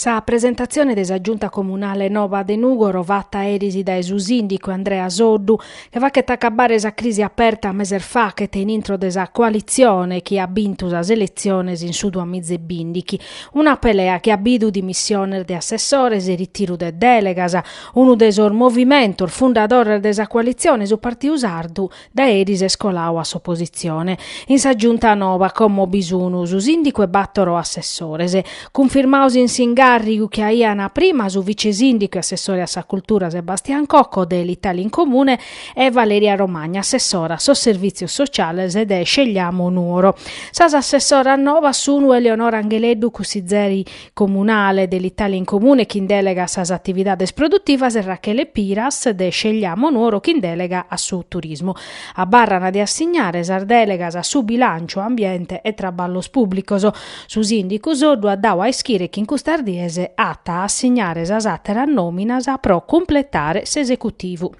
Sa presentatzione de sa Giunta Comunale noba de Nùgoro fata eris dae su sìndicu Andrea Soddu che faghet acabare sa crisi aperta meses faghet in intro de sa coalitzione chi at bintu sas eletziones in su duas miza e bindighi. Una pelea chi at bidu dimissiones de assessores e ritiru de dèlegas. Unu de sos movimentos fundadores de sa coalitzione, su Partiu Sardu, Dae eris est colau a s'opositzione in sa Giunta noba como bi sun su sìndicu e bàtoro assessores, cunfirmados in s'ingàrrigu chi aiant prima su vice-sìndicu e assessore a sa Cultura Sebastian Cocco de l'Italia in Comune e Valeria Romagna, assessora a sos Servìtzios Sociales de Scegliamo Nuoro. Sas assessoras nobas sun Eleonora Angheleddu cussizera comunale de l'Italia in Comune chin dèlega a sas atividades produtivas e Rachele Piras de Scegliamo Nuoro chin dèlega a su turismu. Abarran de assignare sas dèlegas a su Bilànciu, Ambiente e Traballos Pùblicos. Su sìndicu Soddu at dadu a ischire chi in custas dies at a assignare sas àteras nòminas pro cumpletare s'esecutivu.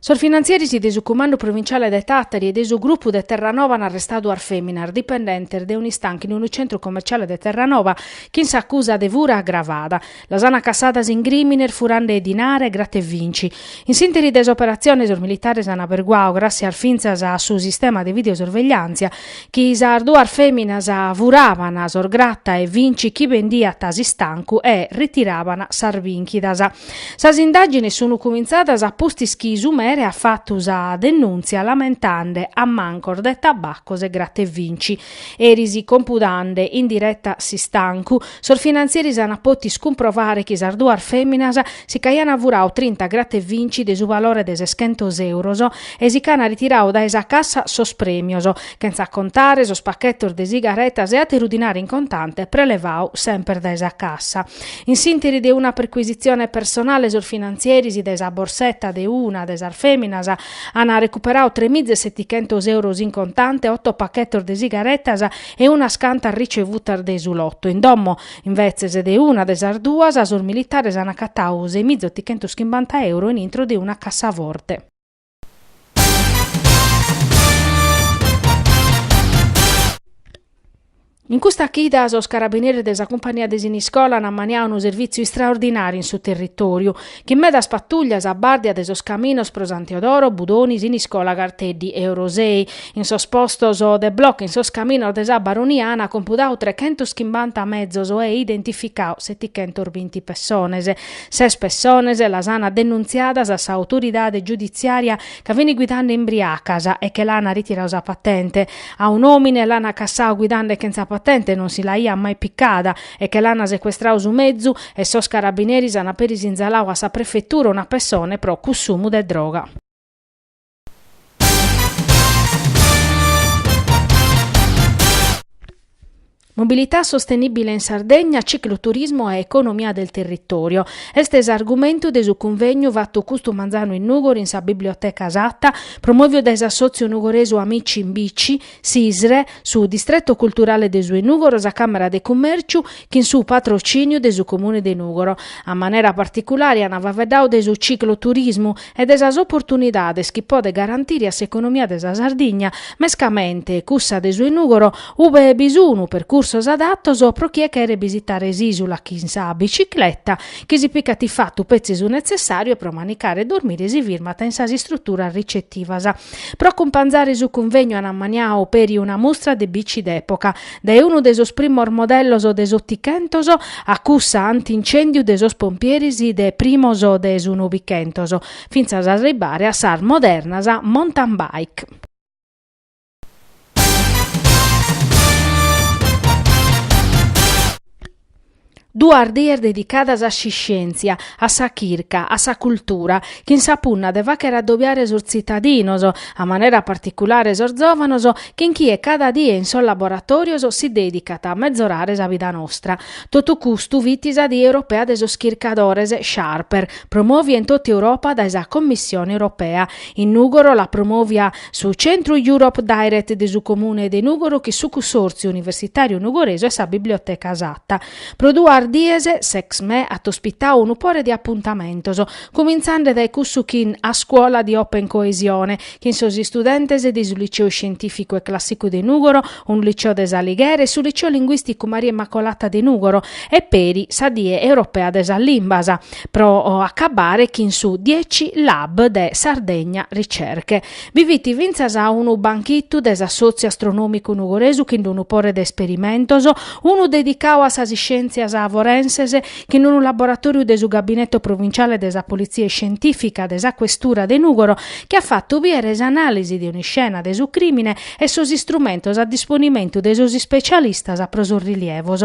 Sos finantzieris de su Cumandu Provinciale de Tàtari e de su grupu de Terranova an arrestadu duas fèminas dipendentes de un'istancu in unu tzentru commerciale de Terranova chin s'acusa de fura agravada. Las an acassadas in crìmines furande dinare e grata e vinci. In s'ìnteri de s'operazione sos militares an aberguadu, gràssias fintzas a su sistema de videosorvegliàntzia, Chi sas duas fèminas furaban sos grata e vinci chi bendiat s'istancu e ritiraban sas bìnchidas. Sas indàgines sun cumintzadas a pustis chi su mere at fatu sa denùntzia lamentande ammancos de tabaccos e grata e vinci. Eris compudande in direta s'istancu, sos finantzieris ant pòtidu cumprovare chi sas duas fèminas si ch'aian furadu trinta grata e vinci de su valore de seschentos euros, e si ch'aian ritiradu dae sa cassa sos premios, chentza contare sos pacchetos de sigaretas e ateru dinare in contante prelevadu semper dae sa cassa. In s'interi de una perquisitzione personale sos finantzieris dae sa borsetta de una de sas feminas ana recuperadu tres mize setichentos euros in contante, otto pacchetos de sigaretas e unas cantas ricevutas de su lotto. In domo invetzes de una de sas duas sos militares ana acatadu sei mize otichentos chimbanta euro in intro de una cassaforte. In custa chida sos carabineris de sa cumpania de Siniscola an ammaniadu unu servìtziu istraordinàriu in su territòriu, chin medas patuglias a bàrdia de sos caminos pro Santeodoro, Budoni, Siniscola, Garteddi e Orosei. In sos postos de blocu in sos caminos de sa Baronia an compudadu trechentos chimbanta mezos e identificadu setichentos binti pessones. Ses pessones las ana denuntziadas a sa autoridade giuditziària ca fini guidande imbriacas e che l'ana ritiradu sa patente. A un'òmine l'ana cassadu guidande chentza patente, non si l'aiat mai picada e che l'ana secuestradu su mezu e sos carabineris ana peri sinzaladu a sa prefetura una pessone pro cussumu de droga. Mobilità sostenibile in Sardegna, cicloturismo e economia del territorio. Est s'argumentu de su cunvegnu fatu custu manzanu in Nùgoro in sa Biblioteca Satta, promoviu dae s'assòtziu nugoresu Amici in Bici, S'ISRE, su Distretto Culturale de su 'e Nùgoro, sa Càmera de Cummèrciu, chin su patrocìniu de su Comune de Nùgoro, a manera particulare ant faeddadu de su cicloturismu e de sas oportunidades chi podet garantire a s'economia de sa Sardigna, mescamente cussa de su 'e Nùgoro, ube bi sun percursos adatos pro chie cheret bisitare s'ìsula chin sa bicicleta, chi si picat in fatu petzi su netzessàriu e pro manicare e dormire si firmant in sas istruturas ricetivas. Pro acumpanzare su cunvegnu an ammaniadu peri una mustra de bici d'època, dae unu de sos primos modellos de s'otichentos a cussa anti-incèndiu de sos pompieres de primos de su novichentos, fintzas a arribbare a sas modernas mountain bike. Duas dies dedicadas a s'iscièntzia, a sa chirca, a sa cultura, chin sa punna de fàghere adobiare sos tzitadinos, a manera particulare sos zòvanos, chin chie cada die in sos laboratòrios si dèdicat a mezorare sa vida nostra. Totu custu fit sa Die Europea de sos Chircadores, Sharper, promòvia in totu Europa dae sa Commissione Europea. In Nùgoro l'at promòvia Su Centru Europe Direct de su Comune de Nùgoro chin su Cussòrtziu Universitàriu Nugoresu e sa Biblioteca Satta. Pro duas dies, s'ExMè at ospitadu unu pore de apuntamentos, cumintzande dae cussu chin A Scuola di Open Coesione, chin sos istudentes de su Liceo Scientificu e Clàssicu de Nùgoro, unu liceo de s'Alighere e su Liceo Linguìsticu Maria Immacolata de Nùgoro, e peri sa Die Europea de sas Limbas. pro acabbare chin su 10Lab de Sardegna Ricerche. Bi fit fintzas unu banchitu de s'Assòtziu Astronòmicu Nugoresu chin unu pore de isperimentos, unu dedicadu a sas iscièntzias forenses chin unu laboratòriu de su Gabineto Provinciale de sa Politzia Iscientìfica de sa Questura de Nùgoro chi at fatu bìdere s'anàlisi de un'iscena de su crìmine e sos istrumentos a disponimentu de sos ispetzialistas pro sos rilievos